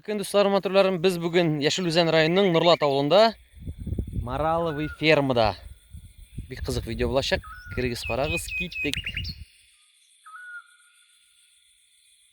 Көн дусларым, матурларым, без бүген Яшел Үзән районының Нурлат авылында Мараловый фермада. Бик кызык видео булачак. Кирегез, карагыз, киттек.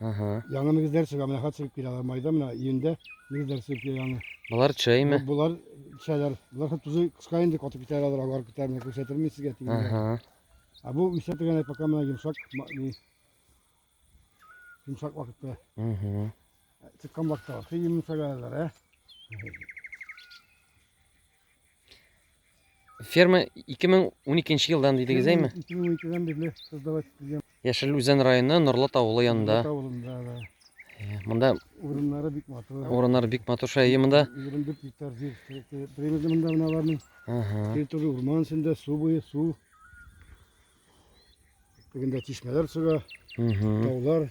Ага. Яңы нигезләр чыга, менә хәт чыгып килә алар майда, менә июньдә нигезләр чыгып килә яңы. Болар чәйме? Болар чәйләр, болар хәт тузы кыска инде, катып китәр алар, алар китәр, менә күрсәтермен сезгә тигән. Ага. Ә бу үсә дигән пока менә йомшак, йомшак вакытта. Ага. Чыккан вакытта, хәй йомшак әлләр, ә? Ферма 2012 елдан дидегез, әйме? 2012-дән бирле создавать ителгән. Яшел Үзән районы Норлат авылы янында. Норлат авылында, да. Э, монда урыннары бик матур. Урыннары бик матур шәй монда. 24 гектар җир примерно монда менә аларның. Ага. Территория урман эчендә, су буе, су. Бүгендә чишмәләр чыга. Таулар.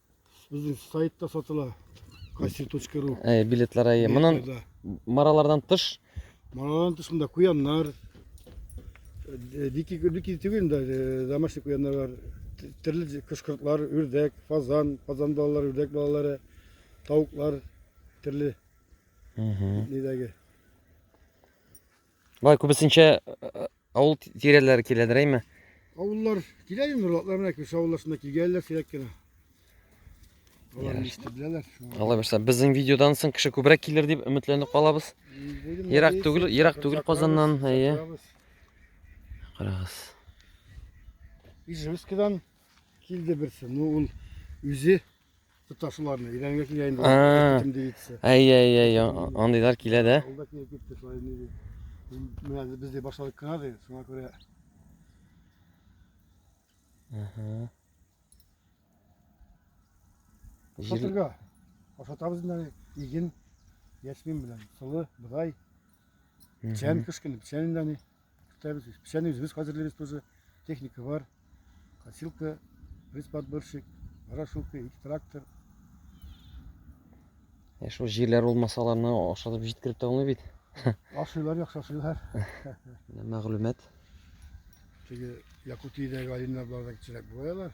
Безнең сайтта сатыла. Кассир.ру. Ә, билетлар әйе. Моннан маралардан тыш. Маралардан тыш монда куяннар. Э, дикий, дикий түгел инде, э, домашний куяннар бар. Төрле кышкыртлар, үрдәк, фазан, фазан балалары, үрдәк балалары, тавыклар, төрле. Нидәге. Бай күбесенчә э, Авыл тирәләре киләдер, әйме? Авыллар килә инде, нурлатлар менә күрше авыллар шунда килгәннәр сирәк кенә. Алар ничек беләләр. Алла бирса, безнең видеодан соң кеше күбрәк килер дип өметләнеп калабыз. Ерак түгел, ерак түгел Казаннан, әйе. Карагыз. Ижевскидан килде берсе. Ну, ул үзе Тоташуларны, идәнгә килә инде. Ә. Китем дигитсе. Әй, әй, әй, а- андыйлар килә дә. Ул да килеп китте, шулай инде. ди. М- Менә без дә башладык кына ди, шуңа күрә. Ага. Җир... Шатырга. Ашатабыз инде аны, иген, яшмин белән, сылы, быдай, Мгм. печән кыш көне, печән инде аны. Көтәбез. Печәне үзебез хәзерлибез тоже. Техника бар. Косилка, рысподборщик, ворошилка, ике трактор. Ә шул җирләр булмаса аларны ашатып җиткереп тә булмый бит. Ашыйлар, яхшы ашыйлар. Мәгълүмат. Теге Якутиядәге алиннар барда кечерәк булалар.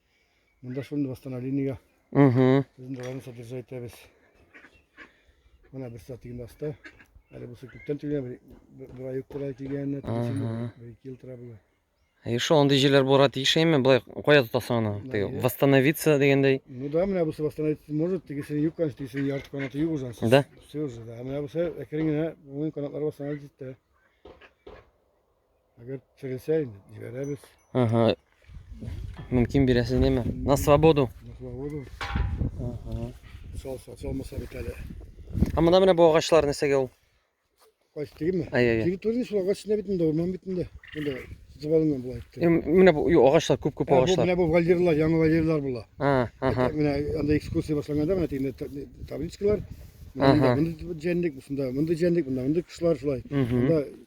Монда шуны восстановлениега. Угу. Безнең даланы содержать итәбез. Менә бер стратегин аста. Әле бусы күптән тигән, бер ай тора тигән, бер ике ел тора була. И шо, андый җирләр булырга тиеш әйме, былай кая тотасың аны? Теге восстановиться дигәндәй. Ну да, менә бусы восстановиться может, тегесе юк, конечно, тегесе ярты канаты юк уже. Да. Все уже, да. Менә бусы әкрен генә уен канатлары восстановить итте. Әгәр терелсә инде, җибәрәбез. Ага. Мөмкин бирәсез неме? На свободу. На свободу. Ага. Салса, салмаса бит әле. Ә монда менә бу агачлар нәрсәгә ул? Кайсы тегеме? Әй, әй, әй. Территория шул агачына бит инде, урман бит инде. Монда звалынан була итте. Е, Менә бу ю, агачлар, күп-күп Ә, бу агачлар. менә бу вольерлар, яңа вольерлар була. А, ага. Менә анда экскурсия башланганда менә тегендә та- табличкалар. Ага. Монда мондый җәнлек, шунда мондый җәнлек, монда мондый кошлар шулай. Мгм. Монда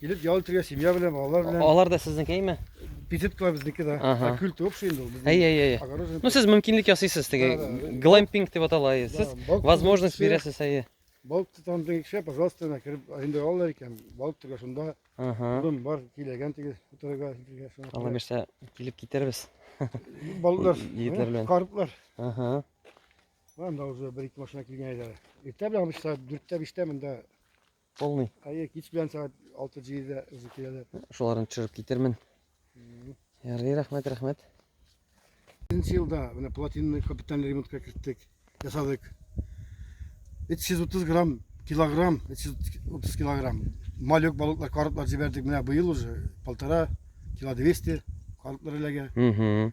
Килеп ял итәргә семья белән, балалар белән. Алар да сезнекеме? Беседкалар безнеке да. Ага. Культ общий инде ул. Әй, әй, әй. Огороженный. Ну сез мөмкинлек ясыйсыз теге Да, да. глэмпинг дип атала. әйе. Сез Да, балык возможность тотып бирәсез, әйе. Балык тотам дигән кеше, пожалуйста, менә кереп аренда алалар икән. Балык тотарга шунда. Ага. Урын бар, киләгән тигез утырырга. килгән шуңа Алла күрә. бирсә килеп китербез. Балыклар, Егетләр белән. карплар. Ага. Анда уже бер-ике машина килгән иде. Иртә белән обычно дүрттә, биштә монда Полный. Әйе, кич белән сәгать 6-7-дә үзе киләләр. Шуларны төшереп китермен. Ярый, рәхмәт, рәхмәт. Беренче елда менә платинный капитальный ремонтка керттек, ясадык. 330 грамм, килограмм, 330 килограмм. Малек балыклар, карплар җибәрдек. Менә быел уже полтора кило 200 карплар эләгә.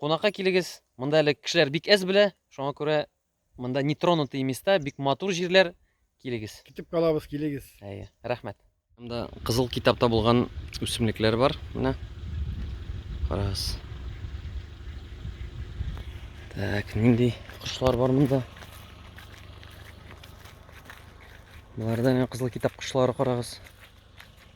Кунакка килегез, монда әле кешеләр бик әз белә, шуңа күрә монда нетронутый места, бик матур җирләр, килегез. Көтеп калабыз, килегез. Әйе, рәхмәт. Монда кызыл китапта булган үсемлекләр бар, менә. Карагыз. Так, нинди кошлар бар монда? Боларда менә кызыл китап кошлары карагыз.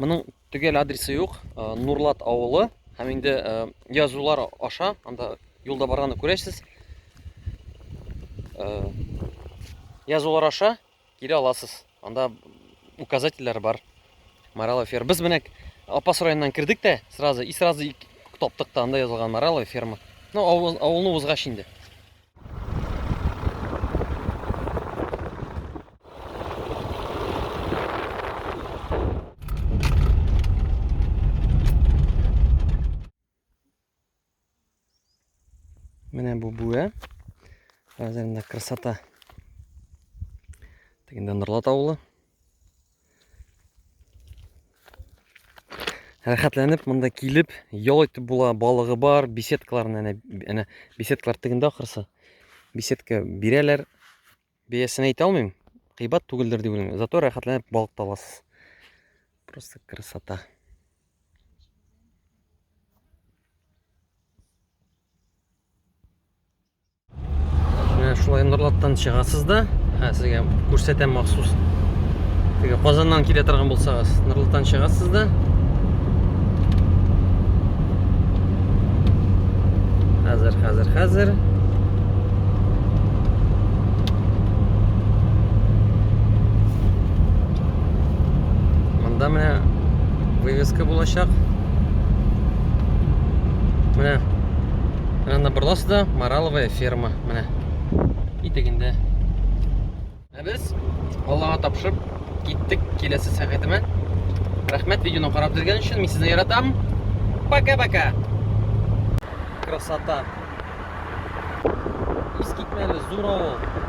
Моның төгәл адресы юк, э, Нурлат авылы һәм инде э, язулар аша, анда юлда барганда күрәсез. Э, язулар аша кире аласыз. Анда указательләр бар. Марала ферма. Без менә Апас районыннан кердек тә, сразу и сразу таптык та анда язылган Марала ферма. Ну, авылны узгач инде. Менә бу бүә. Хәзер инде красота. Тегендә Норлат авылы. рәхәтләнеп монда килеп ял итеп була балыгы бар беседкаларны әнә әнә беседкалар тегендә ахрысы беседка бирәләр бәясен әйтә алмыйм кыйбат түгелдер дип уйлыйм зато рәхәтләнеп балык та аласыз просто красота Менә шулай Норлаттан чыгасыз да, ә сезгә күрсәтәм махсус. Теге Казаннан килә торган булсагыз, Норлаттан чыгасыз да. Хәзер, хәзер, хәзер. Монда менә вывеска булачак. Менә Ә набырласы да мораловая ферма. Менә. И тегендә. Ә без Аллага тапшып киттек киләсе сәгатемә. Рәхмәт видеоны карап дергән өчен. Мин сезне яратам. Пока-пока. Красота. Искитмәле зур авыл.